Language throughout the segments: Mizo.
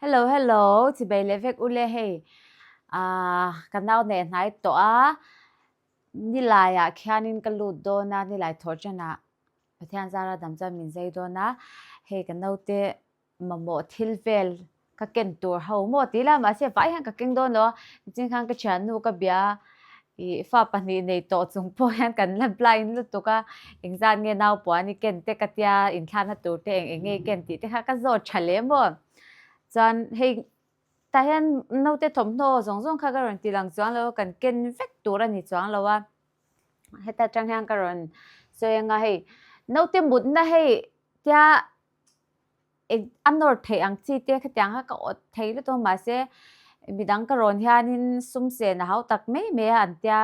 Hello hello chibei leh vek ule hei ah ka nau nei hnai tawh a nilai ah khian in ka lut dawn a nilai thawh chen ah pathian zara dam chuan min zai dawn a hei ka naute mamawh thil vel ka ken tur ho maw ti ila mahse vai hian ka keng dawn lo a ching khan ka thiannu ka bia ih fa pahnih nei tawh chung pawh hian kan la blind lutuk a engzat nge nau puan i ken te ka tia inthlana tur te eng eng nge i ken tih te kha ka zawt tha leh maw chuan hei tah hian note thawmhnaw zawng zawng kha ka rawn ti lang chuang lo kan ken vek tur a ni chuang lo a heta tang hian ka rawn sawi anga hei note mutna hei tia a nawr theih ang chi te khatiang kha ka awt thei lutuk a mahse mi dang ka rawn hianin sumsena hau tak mai mai a an tia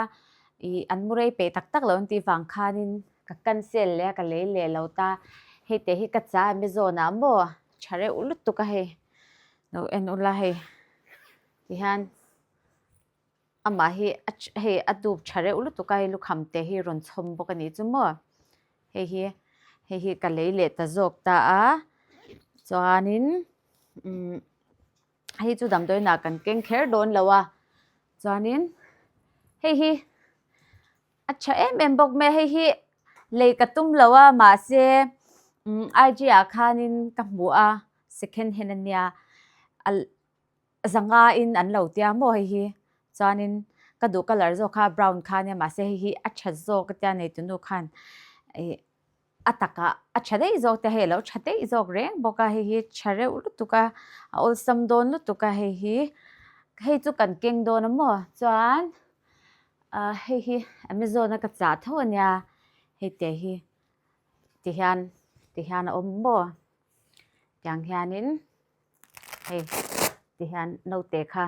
ih an mu rei peih tak tak lo an tih vang khanin ka cancel leh a ka lei leh lo ta hei te hi ka cha em e zawn ah maw tha reuh lutuk a hei lo en ula hei ti hian. Amah hi hei a dup tha reuh lutuk a, hei lukhamte hi rawn chhawm bawk a nih chu maw. Hei hi, hei hi ka lei leh ta zawk ta a, chuanin umm hei chu damdawiinah kan keng kher dawn lo a, chuanin hei hi a tha em em bawk mai a, hei hi lei ka tum lo a, mahse umm IG ah khanin ka hmu a, second hand a nia. Zanga in an lo tia maw hei hi? Chuanin ka duh colour zawk kha brown kha nia mahse hei hi a that zawk a tia nei tunu khan ih a taka a tha daih zawk tia hei alo tha daih zawk reng bawk a hei hi tha reuh lutuk a a awlsam dawn lutuk a hei hi hei chu kan keng dawn a maw chuan ah hei hi amazon a ka chah tho a nia hei te hi tihian tihian a awm maw tiang hianin. hei ti hian note kha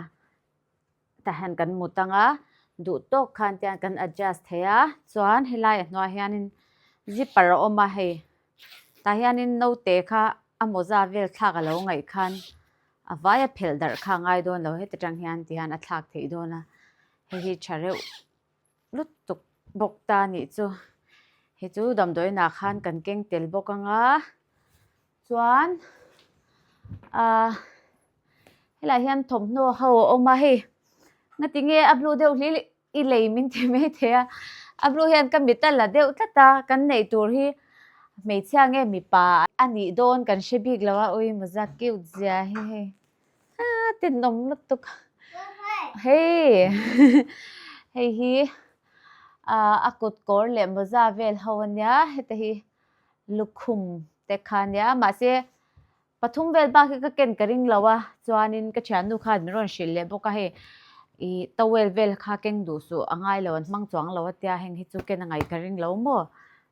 tah hian kan hmu tang a duh tawk khan te hian kan adjust thei a chuan helai ah hnuai ah hianin zipper a awm a hei tah hianin note kha a mawza vel thlak a lo ngaih khan a vai a phelh darh kha a ngai dawn lo heti tang hian ti hian a thlak theih dawn a hei hi tha reuh-- lutuk bawk ta nih chu hei chu damdawiinah khan kan keng tel bawk ang a chuan ahh helaiah hian thawmhnaw ho a awm a hei nga ti nge a blue deuh hlel i lei min ti mai thei a a blue hian ka mit a la deuh tlat a kan neih tur hi hmeichhia nge mipa a nih dawn kan hre bik lo a ui maw zat cute zia hi hei. Ah, te nom lawt tuk. Hei, hei hi a kut kawr leh mawza vel ho a nia, heta hi lukhum te kha a nia. Mahse pathum vel bak hi ka ken ka ring lo a, chuanin ka thiannu kha min rawn hrilh leh bawk a, hei i towel vel kha keng duh suh a ngai lo, an hmang chuang lo a tia heng hi chu ken angai ka ring lo maw?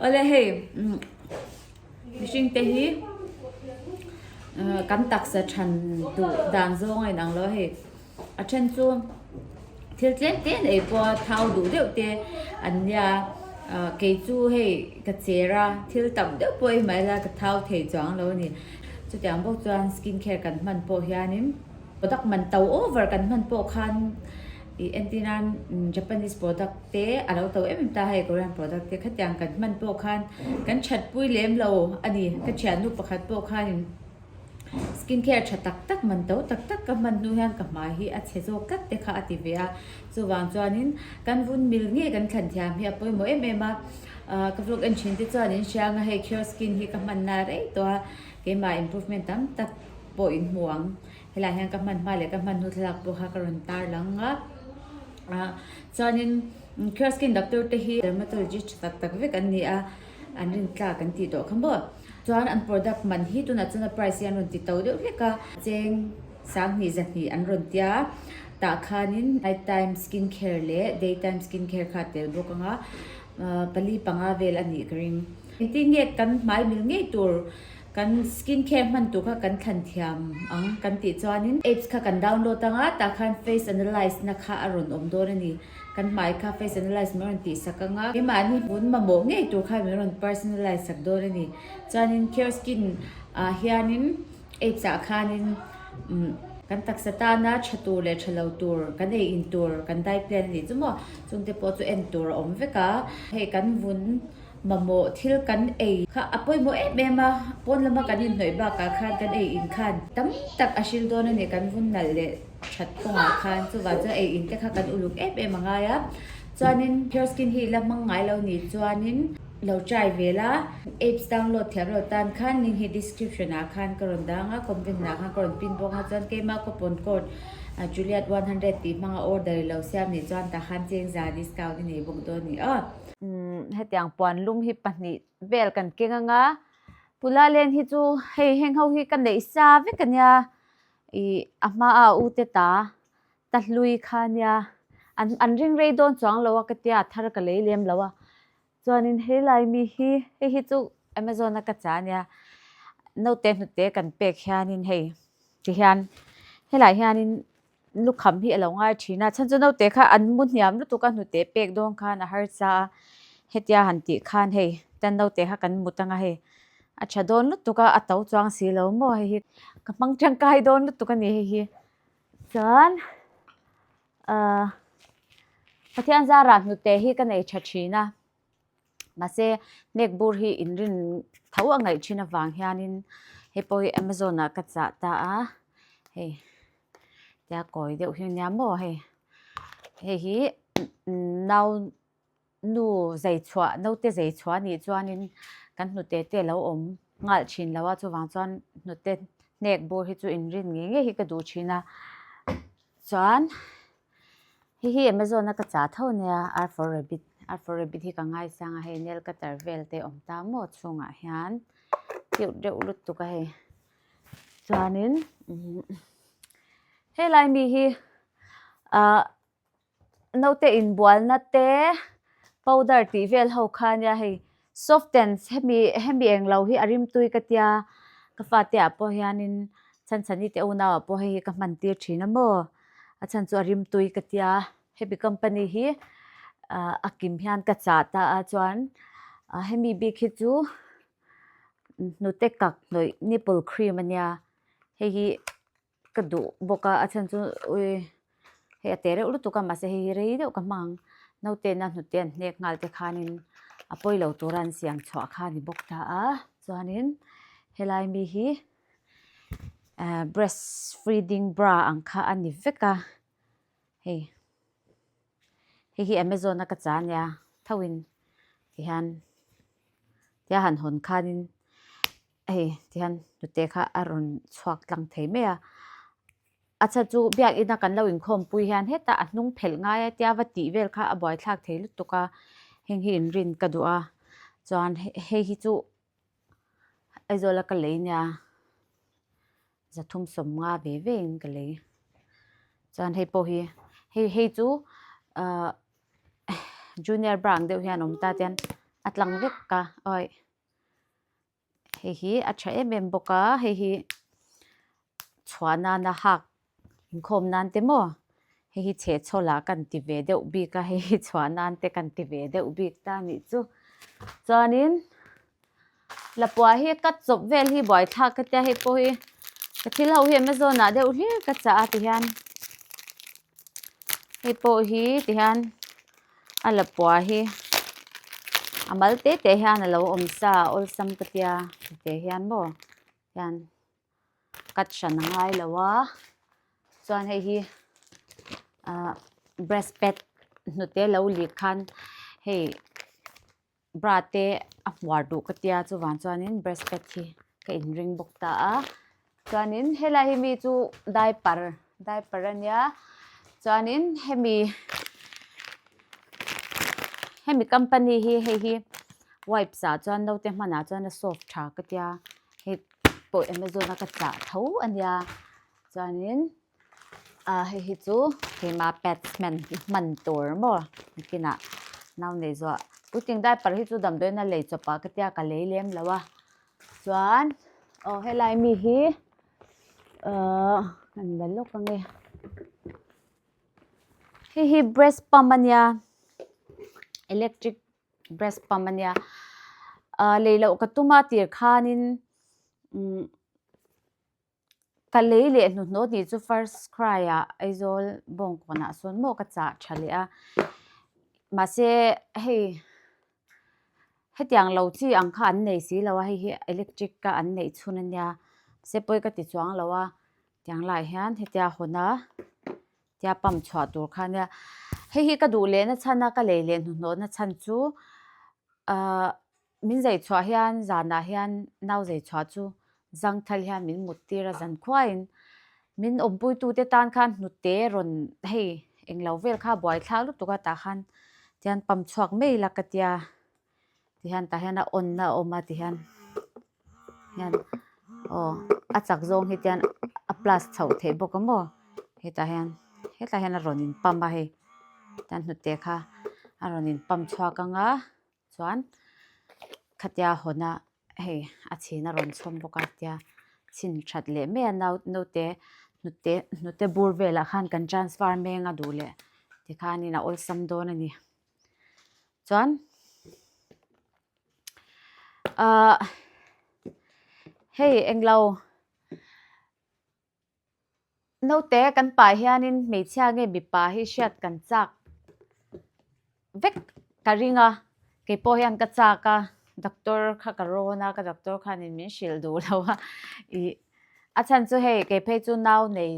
Awle hei mihringte hi kan taksa than duh dan zawnga inang lo a hei. A then chu thil tlem te nei pawha thau duh deuh te an nia. Kei chu hei ka cher a, thil tam deuh pawh i hmai lai ka thau thei chuang lo a ni. Chutiang bawk chuan skin care kan hman pawh hianin. Product man to over kan hman pawh khan i entir nan Japanese product te a lo to em em ta hei Korean product te khatiang kan hman pawh khan kan that pui lem lo a ni ka thiannu pakhat pawh khanin skin care tha tak tak man to tak tak ka hman hnu hian ka hmai hi a chhe zawk tlat te kha a ti ve a chuvang chuanin kan vun mil ngei kan thlan thiam hi a pawimawh em em a ka vlog en thin te chuan in hriang a hei care skin hi ka hman na rei tawh a keimah improvement tam tak pawh in hmu ang helai hian ka hman hma leh ka hmannu thlalak pawh kha ka rawn tar lang a ah chuanin Kira skin doctor te hi dermatologist tha tak tak vek an ni a an rin tlak kan tih tawh kha maw chuan an product man hi tunah chuan a price hi an rawn ti to deuh hlek a cheng sanghnih zahnih an rawn tia tah khanin night time skin care leh day time skin care kha a tel bawk ang a ah pali panga vel a nih ka ring engtin nge kan hmai mil ngei tur. Kan skin care hman tur kha kan thlan thiam ang kan tih chuanin apps kha kan download a nga tah khan face analyse na kha a rawn awm dawn a ni. Kan hmai kha face analyse min rawn tih sak a nga. Kei mah ni hun mamawh ngei tur kha min rawn personalize sak dawn a ni. Chuanin Care Skin ah hianin apps ah khanin kan taksa tana tha tur leh tha lo tur kan ei in tur kan dai plan a nih chu maw? Chungte pawh chu en tur a awm vek a. Hei kan vun. Mamawh thil kan ei kha a pawimawh em em a, pawn lama kan inhnawih bakah khan kan ei in khan tam tak a hrilh dawn a ni, kan vun nalh leh that kawngah khan chuvah chuan ei in te kha kan uluk em em a ngai a, chuanin Pure Skin hi la hmang ngai lo nih chuanin lo try ve la, apps download thiam lo tan khan link hi description ah khan ka rawn dang a, comment hnenah khan ka rawn pin bawk a, chuan keimah coupon code Juliet one hundred tih hmanga order i lo siam nih chuan tah khan chengza discount i nei bawk dawn a ni aw. hetiang puan lum hi pahnih vel kan keng anga pula len hi chu hei heng ho hi ka neih sa vek ania i a hmaa u te ta ta hlui kha nia an an ring rei dawn chuang lo a ka tia a thar ka lei lem lo a chuanin helai mi hi hei hi chu amazon a ka chah ania note hnute kan pek hianin hei ti hian helai hianin Lukham hi a lo ngai thin a, chhan chu naute kha an mu hniam lutuk a hnute pek dawn khan a harsa a, hetia han tih khan hei tan naute kha kan mut anga hei a tha dawn lutuk a, a to chuang si lo maw hei hi ka hmang tangkai dawn lutuk a ni hei hi. Chuan ahh Pathian zara hnute hi ka nei tha thin a. Mahse, hnek bur hi inrin tho a ngaih thin avang hianin hei pawh hi Amazon-ah ka chah ta a. Hei, tia kawi deuh hi nia maw hei. Hei hi nau nu zei chhuah, naute zei chhuah nih chuanin kan hnute te lo awm nghal thin lo a, chuvang chuan hnute hnek bur hi chu inrin ngei ngei hi ka duh thin a. Chuan. Hei hi Amazon a ka chah tho nia R for rabbit R for rabbit hi ka ngai sang a hei nail cutter vel te awm ta maw chhungah hian deuh deuh lut tuk a hei chuanin helai mi hi ah naute inbualna te powder tih vel ho kha nia hei Soft tense, hemi hemi eng lo hi a rimtui ka tia ka fate ah pawh hianin chhanchhan i te unau ah pawh hei hi ka hman tir thin a maw a chhan chu a rimtui ka tia hemi company hi a kim hian ka chah ta a chuan hemi bik hi chu hnute kak hnawih nipple cream a nia hei hi Ka duh bawk a, a chhan chu ui hei a teh reuh lutuk a, mahse hei hi rei deuh ka hmang. Nautena hnute an hnek nghal te khanin a pawi lo tura an siam chhuah kha a ni bawk ta a, chuanin helai mi hi ehh breast feeding bra ang kha a ni vek a, hei hei hi Amazon a ka chah a nia, thauhin tihian tia han hawn khanin. Hei ti hian nute kha a rawn chhuak tlang thei mai a. A chha chu biakin a kan lo inkhawmpui hian heta a hnung phelh ngai a tia va tih vel kha a buaithlak thei lutuk a, heng hi in rin ka duh a, chuan hei hi chu Aizawla ka lei nia, zathum sawm nga ve ve in ka lei. Chuan hei pawh hi, hei hei chu junior bar ang deuh hian awm ta tian a tlang vek ka. hei hi a tha em em bawk a hei hi chhuah nan a hak inkhawm nan te maw hei hi chhe chhaw lah kan ti ve deuh bik a hei hi chhuah nan te kan ti ve deuh bik ta nih chu chuanin lapuah hi cut chawp vel hi buai thlak ka tia hei pawh hi ka thil ho hi Amazon ah deuh hlek ka chah a ti hian hei pawh hi ti hian a la pua hi a mal te te hian a lo awm sa awlsam ka tia te hian bo hian cut hran a ngai lo a chuan hei hi breast pad hnute lo lih khan hei bra te a hmuar duh ka tia chuvang chuanin breast pad hi ka in ring bawk ta a chuanin helai hi mi chu diaper diaper a nia chuanin hemi hemi company hi hei hi wipes ah chuan naute hmanah chuan a soak tha ka tia hei pawh amazon a ka chah tho a nia chuanin. Hei hi chu keima pads hman i hman tur maw bikinah nau nei zawh pu ting diaper hi chu damdawiin a lei chawp a ka tia ka lei lem lo a chuan aw helai mi hi uh ka han la lawk ange hei hi breast pump a nia electric breast pump a nia uh lei loh ka tuma tir khanin um Ka lei leh hnuhnawt nih chu first cry a Aizawl bawng kawnah sawn maw ka chah tha leh a. Mahse hei hetiang lo chi ang kha an nei si lo a, hei hi electric a an neih chhun a nia. Mahse pawi ka ti chuang lo a, tiang lai hian hetia hawn a tia pump chhuah tur kha a nia. Hei hi ka duh lehna chhan a, ka lei leh hnuhnawtna chhan chu ahh. Min zei chhuah hian zanah hian nau zei chhuah chu Zangthal hian min muttir a zan khuain min awmpuitute tan khan hnute rawn hei englo vel kha buaithlak lutuk a tah khan tihian pam chhuak mai la ka tia tihian tah hian a awnna a awm a tihian hian aw a chak zawng hi tihian a plus chho theih bawk a maw hetah hian hetah hian a rawn inpam a hei tihian hnute kha a rawn inpam chhuak ang a. chuan khatia hawn a hei a chhina rawn chhawm bawk a tia chhin that leh mai a nau naute hnute hnute bur velah khan kan transfer meng a duh leh tikhanin a awlsam dawn a ni chuan ahh hei englo. Naute kan pa hianin hmeichhia nge mipa hi hriat kan chak vek ka ring a keipawh hian ka chak a doctor kha ka rawn a ka doctor khanin min hrilh duhlo a ih a chhan chu hei kei phei chu nau nei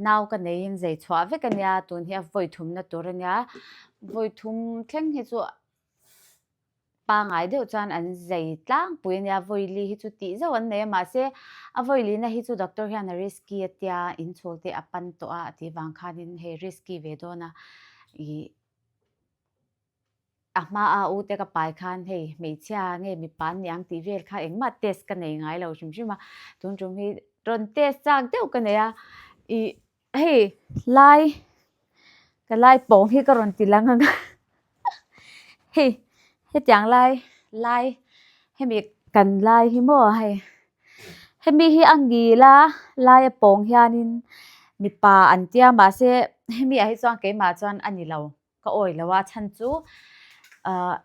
nau ka neiin zei chhuah vek a nia tunhi a vawi thumna tur a nia vawi thum thleng hi chu. Pangai deuh chuan an zei tlangpui a nia, Vawili hi chu tih zauh an nei a, mahse a vawilina hi chu doctor hian a risky a tia inchhul te a pan tawh a, a tih vang khanin hei risky ve dawn a, ih a hmaa u te ka pai khan hei hmeichhia nge mipa an ni ang tih vel kha engmah test ka nei ngai lo hrim hrim a, tun tum hi rawn test chak deuh ka nei a, ih. Hei lai ka lai pawng hi ka rawn ti lang ang a hei hetiang lai lai hemi kan lai hi maw hei hemi hi a ngil a lai a pawng hianin mipa an tia mahse hemiah hi chuan keimah chuan a nilo. Ka awi lo a, chhan chu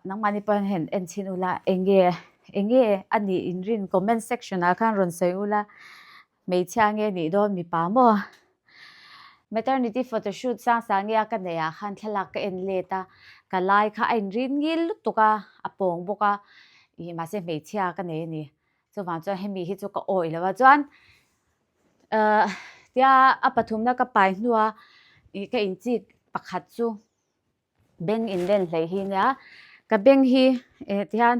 nangmahni pawh hian en chhin ula, eng nge eng nge a nih in rin comment section ah khan rawn sawi ula, hmeichhia nge nih dawn mipa maw? Maternity photoshoot sang sangia ka neih ah khan thlalak ka en let a, ka lai kha a in rin ngil lutuk a, a pawng bawk a, ih mahse hmeichhia ka nei a ni, chuvang chuan hemi hi chu ka awi lo a, chuan tia a pathumna ka pai hnua ka in chi pakhat chu bank in len hlei hi nia ka bank hi eh ti hian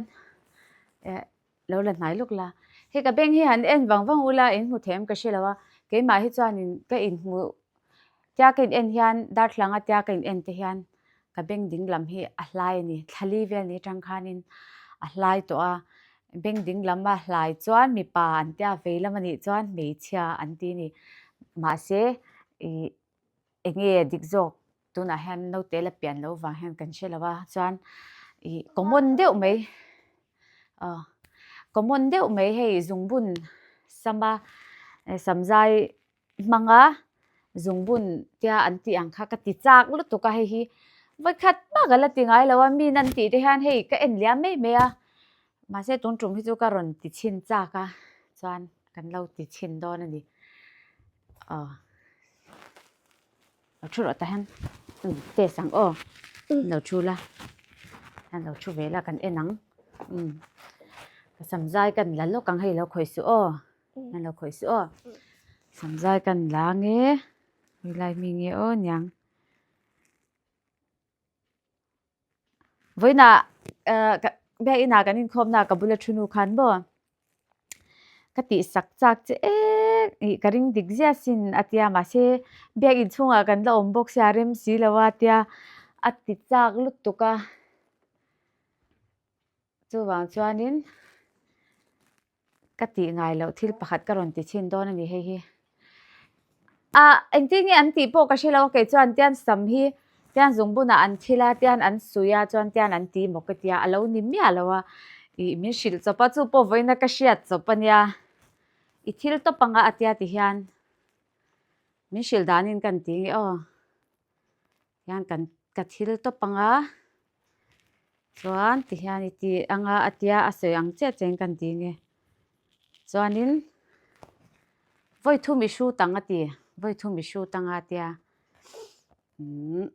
eh lo la hnai lawk la hei ka bank hi han en vang vang ula in hmu thei ang ka hre lo a keimah hi chuan in ka inhmuh Tiak a ine'n hian darthlanga tiak a ine'n te hian ka beng dinglam hi a hlai a ni. Thlali vel ni atang khanin a hlai tawh a. Beng dinglama hlai chuan mipa an tia vei lam a nih chuan hmeichhia an ti a ni. Mahse ih eng nge dik zawk tunah hian naute la pian loh vang hian kan hre lo a. Chuan ih common deuh mai aw common deuh mai hei zungbun sama samzai hmanga zungbun tia an tih ang kha ka ti chak lutuk a hei hi vawi khat bak a la ti ngai lo a mi nan tih te hian hei ka en liam mai mai a mahse tung tum hi chu ka rawn ti chhin chak a chuan kan lo ti chhin dawn a ni lo thu rawh tah hian test ang aw an lo thu la an lo thu ve la kan en ang ka sam zai ka la lawk ang hei lo khawih suh aw. Kan lo khawih si aw. Samzai kan la nge. Hilai mi nge aw niang. Voina biak ina kan in khom na ka bula thunu khan bo. Ka ti sak chak che e ka ring dik zia sin atia ma se biak in chunga kan la awm bawk sia rem si lo atia ati chak lutuk a. Chuvang chuanin ka tih ngai loh thil pakhat ka rawn ti chhin dawn a ni hei hi. A engtin nge an tih pawh ka hre lo a kei chuan tian sam hi tian zungbunah an thil a tian an suih a chuan tian an ti maw ka ti a a lo ni miah lo a i min hrilh chawp a chu pawh vawiina ka hriat chawp a nia i thil tawp anga a tia ti hian min hrilh danin kan ti nge aw Hian kan ka thil tawp ang a, chuan tihian i ti ang a, a tia a sawi ang chiah chiahin ka han ti nge. Chuanin vawi thum i hrut ang a ti, vawi thum i hrut ang a a tia umm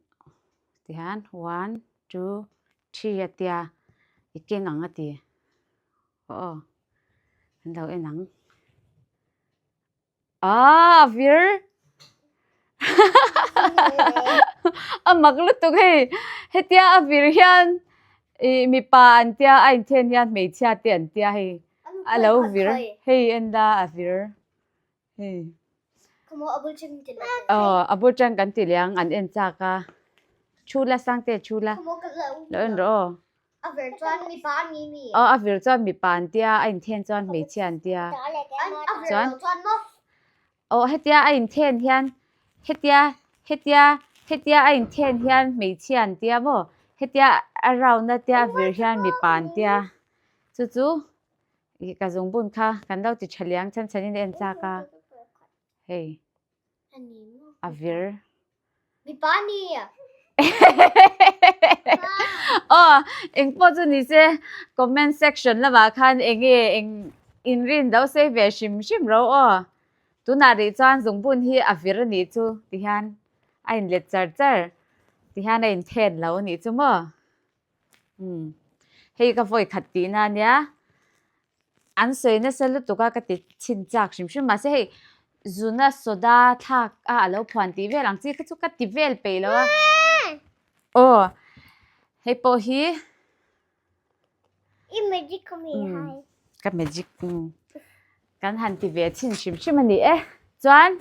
tihian one, two, three a tia i keng ang a ti. Aw aw an lo en ang. Aa a vir a mak lutuk hei hetia a vir hian i mipa an tia a inthen hian hmeichhia te an tia hei a lo vir hei enda a vir hei a bul tang kan ti liang aw a bul tang kan ti liang an en chak a thu la sangte thu la lo en rawh aw. A vir chuan mipa an ni mi? Aw, a vir chuan mipa an tia, a inthen chuan hmeichhia an tia. A vir lo chuan maw? Aw, hetia a inthen hian, hetia, hetia, hetia a inthen hian hmeichhia an tia maw? Hetia a round atia a vir hian mipa an tia. Chu chu ka zungbun kha kan lo ti tha liang chhan chhanin a en chak a. Hei. a vir mipa ni a oh eng pawh chu ni se comment section lamah khan eng nge eng in rin do se ve hrim hrim ro aw tunah rih chuan zungbun hi a vir a nih chu ti hian a inlet char char ti hian a inthen lo a nih chu maw Hmm. Hei ka voi khat ti na nia. An soi na sa lutuk a ka ti chin chak hrim hrim ma se hei zuna soda thak a alo phuan ti vel ang chi ka chu ka ti vel pe lo a. Oh. Hei po hi i magic ka mi hmm. hai. Ka magic. Hmm. Kan han ti ve chin hrim hrim ani e. Chuan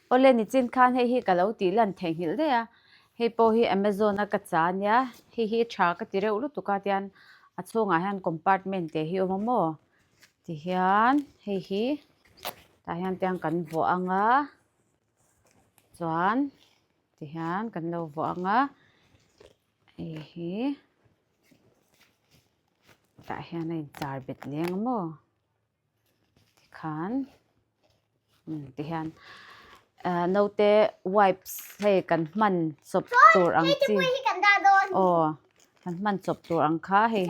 Awle nichin khan hei hi ka lo tih lan thei nghilh daih a, hei pawh hi Amazon a ka cha a nia, hei hi i tha ka ti reuh lutuk a, tian a chhungah hian compartment te hi a awm a maw tihian hei hi tah hian tiang kan vuah ang a, chuan tihian kan lo vuah ang a, hei hi tah hian a in char bet leng a maw. tikhan tihian note wipes hei kan hman chawp tur ang chi aw kan hman chawp tur ang kha hei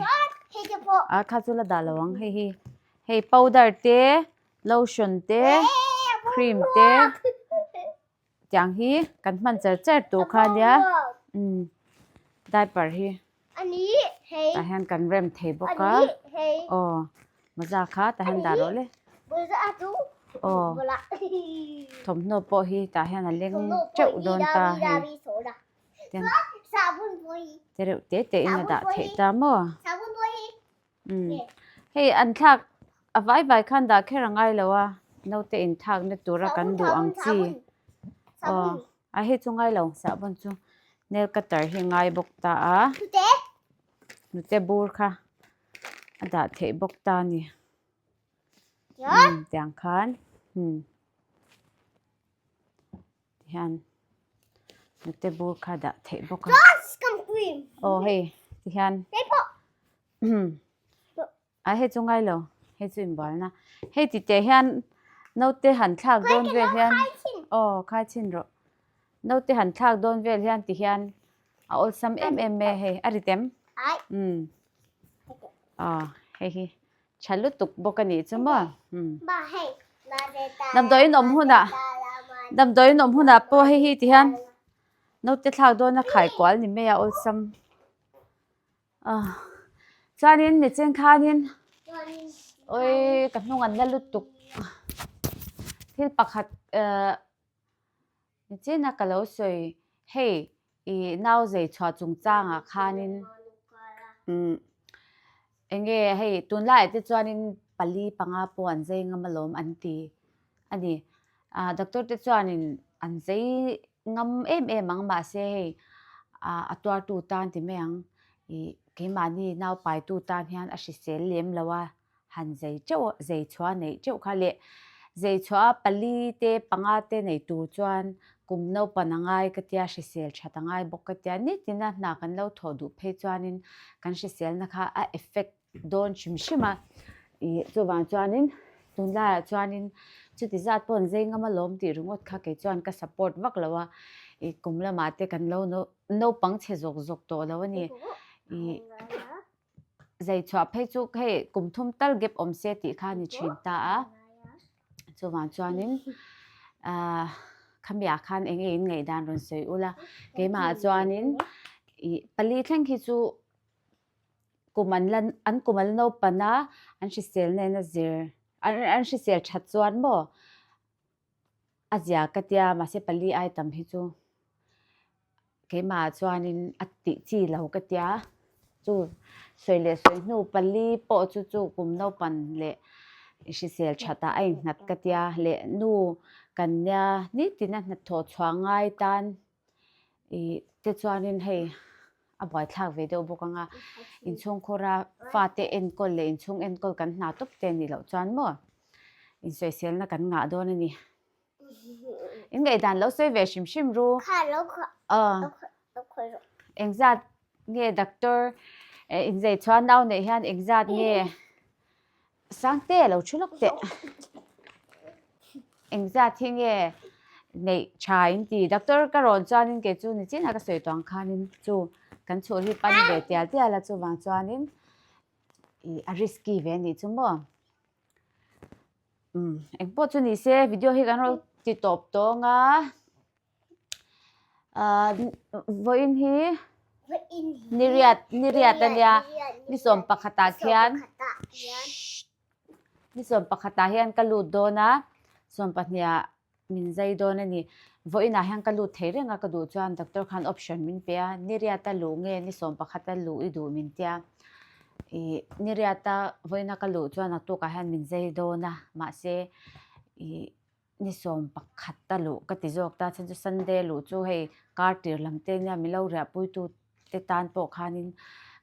a kha chu la dah lo ang hei hi hei powder te lotion te cream te. tiang hi kan hman cher cher tur kha nia diaper hi tah hian kan rem thei bawk a aw mawza kha tah hian dah rawh le aw thawmhnaw pawh hi tah hian a leng teuh dawn ta hei te reuh te te in a dah theih ta maw. Hei an thlak a vai vai khan dah kher a ngai lo a naute in thlak na tura kan duh ang chi aw a hi chu ngai lo sahbawn chu nail cutter hi a ngai bawk ta a hnute bur kha a dah theih bawk ta a ni tiang khan. Tihian nute bur kha dah theih bawk a. Aw hei, tihian. A hei chu ngai lo, hei chu inbualna. Hei ti teh hian note han thlak dawn vel hian. Aw, khai chin rawh. Note han thlak dawn vel hian tihian a awlsam em em e hei. A rit em? Aw, hei hi. Tha lutuk bawk a nih chu maw? Damdawi in awm hunah, damdawi in awm hunah pawh hei hi ti hian naute thlak dawna khai kual ni mai a awlsam. Chuanin mi chen khanin awii ka hnungan la lutuk. Thil pakhat. Nichina ka lo sawi hei i nau zei chhuah chung changah khanin eng nge hei tunlaiah te chuanin pali panga pawh an zei ngam alawm an ti a ni. Doctor te chuanin an zei ngam em em ang mahse hei a tuartu tan ti mai ang i keimahni naupaitu tan hian a hrisel lem lo a. han zei teuh zei chhuah neih teuh kha leh zei chhuah a pali te panga te nei tur chuan kum naupan a ngai ka tia hrisel that a ngai bawk ka tia nitin a hna kan lo thawh duh phei chuanin kan hriselna kha a effect dawn hrim hrim a ih chuvang chuanin tunlaiah chuanin chuti zat pawn zei ngam alawm tih ringawt kha kei chuan ka support vak lo a ih kum lamah te kan lo naupang chhe zawk zawk tawh lo a ni ih. zei chhuah phei chu hei kum thum tal gap awm se tih kha a ni thin ta a chuvang chuanin ah khami ah khan eng nge in ngaih dan rawn sawi ula keimah ah chuanin ih pali thleng hi chu kum an la an kum an la nopana an hrisel nen a zir an an hrisel that chuan maw A zia ka tia mahse pali ai tam hi chu keimah chuanin a tih chi lo ka tia chu sawi leh sawi hnu pali pawh chu chu kum naupan leh hrisel tha tah a innghat ka tia leh nu kan nia ni tina hnathawh chhuah ngai tan. i te chuanin hei a buaithlak ve deuh bawk anga inchhung khawra fate enkawl leh inchhung enkawl kan hna tawp te anih loh chuan maw insawiselna kan ngah dawn a ni ingaihdan lo sawi ve hrim hrim ru engzat nge doctor inzei chhuanau neih hian engzat nge. Sang te lo thu lawk teh. Engzat hi nge neih tha in ti doctor ka rawn chuanin kei chu ni china ka sawi tuang khanin chu kan chhuh hi pan ve tial tial a chuvang chuanin i a risky ve ni chu maw um engpawh chu ni se video hi kan rawn ti tawp tawnga vawiin hi niriat niriat a nia ni sawm pakhatah khian ni sawm pakhatah hian ka lut dawn a sawm pahniah min zai dawn a ni vawiinah hian ka lut thei reng a ka duh chuan doctor khan option min pe a niriat a luh nge ni sawm pakhat a luh i duh min tia ih niriata vawiina ka luh chuan a tukah hian min zai dawn a mahse ih-- Ni sawm pakhat a luh ka ti zawk ta chuan chu Sunday a luh chu hei kar tir lam te nia min lo riah pui tu te tan pawh khanin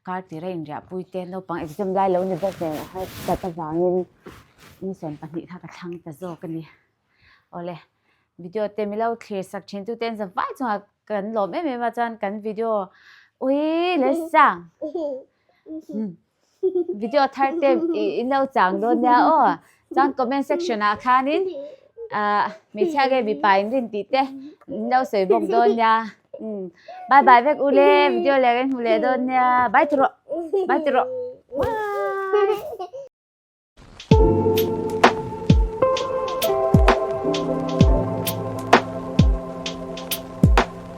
kar tir a inriah pui te naupang exam lai lo ni bawk ve a har dat avangin ni sawm pahnih kha ka thlang ta zawk a ni. Awle video te min lo thlir sak thin tu te an za vai chungah kan lawm em em a chuan kan video ui leh sang. Video thar te i no chang dawn nia aw. Chuan comment section ah khanin hmeichhia nge mipa in rin tih te in lo sawi bawk dawn nia. Bye bye vek u le video leh kan hmu leh dawn nia. Bye ti rawh. Bye ti rawh.